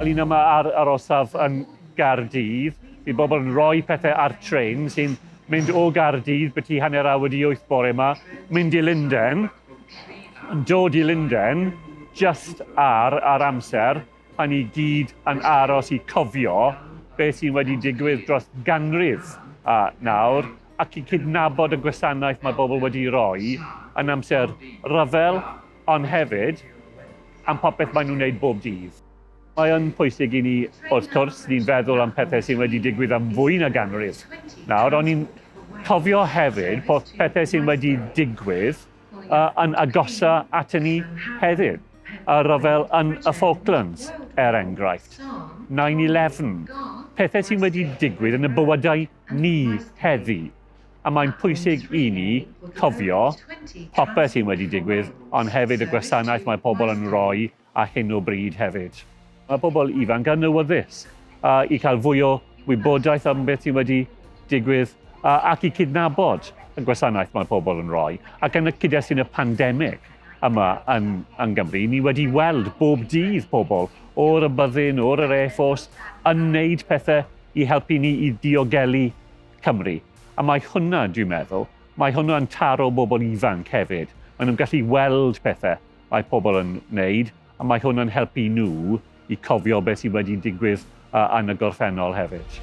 Ni'n yma ar yr orsaf yn Gaerdydd. Mae bobl yn rhoi pethau ar tren sy'n mynd o Gaerdydd byti hanner awr wedi wyth bore yma, mynd i Lundain, yn dod i Lundain just ar ar amser pan ni gyd yn aros i cofio beth sy'n wedi digwydd dros ganrif a nawr ac i gydnabod y gwasanaeth mae bobl wedi'i roi yn amser rhyfel, ond hefyd am popeth maen nhw'n wneud bob dydd. Mae yn pwysig i ni, wrth cwrs, ni'n feddwl am pethau sydd wedi digwydd am fwy na ganrif nawr, ond ni'n cofio hefyd bod pethau sydd wedi digwydd yn agosa aton ni heddiw. Y rhyfel yn y Falklands, er enghraifft, 9-11, pethau sydd wedi digwydd yn y bywydau ni heddi. A mae'n pwysig i ni cofio popeth sy'n wedi digwydd, ond hefyd y gwasanaeth mae pobl yn rhoi a hyn o bryd hefyd. Mae pobl ifanc yn awyddus a, i cael fwy o wybodaeth am beth sy'n wedi digwydd a, ac i cydnabod y gwasanaeth mae pobl yn rhoi. Ac yn y cyd-destun y pandemig yma yn, yn Gymru, ni wedi weld bob dydd pobl o'r y byddin, o'r yr Air Force, yn wneud pethau i helpu ni i ddiogelu Cymru. A mae hwnna, dwi'n meddwl, mae hwnna'n taro bobl ifanc hefyd. Maen nhw'n gallu weld pethau mae pobl yn wneud, a mae hwnna'n helpu nhw i cofio beth sydd wedi digwydd yn y gorffennol hefyd.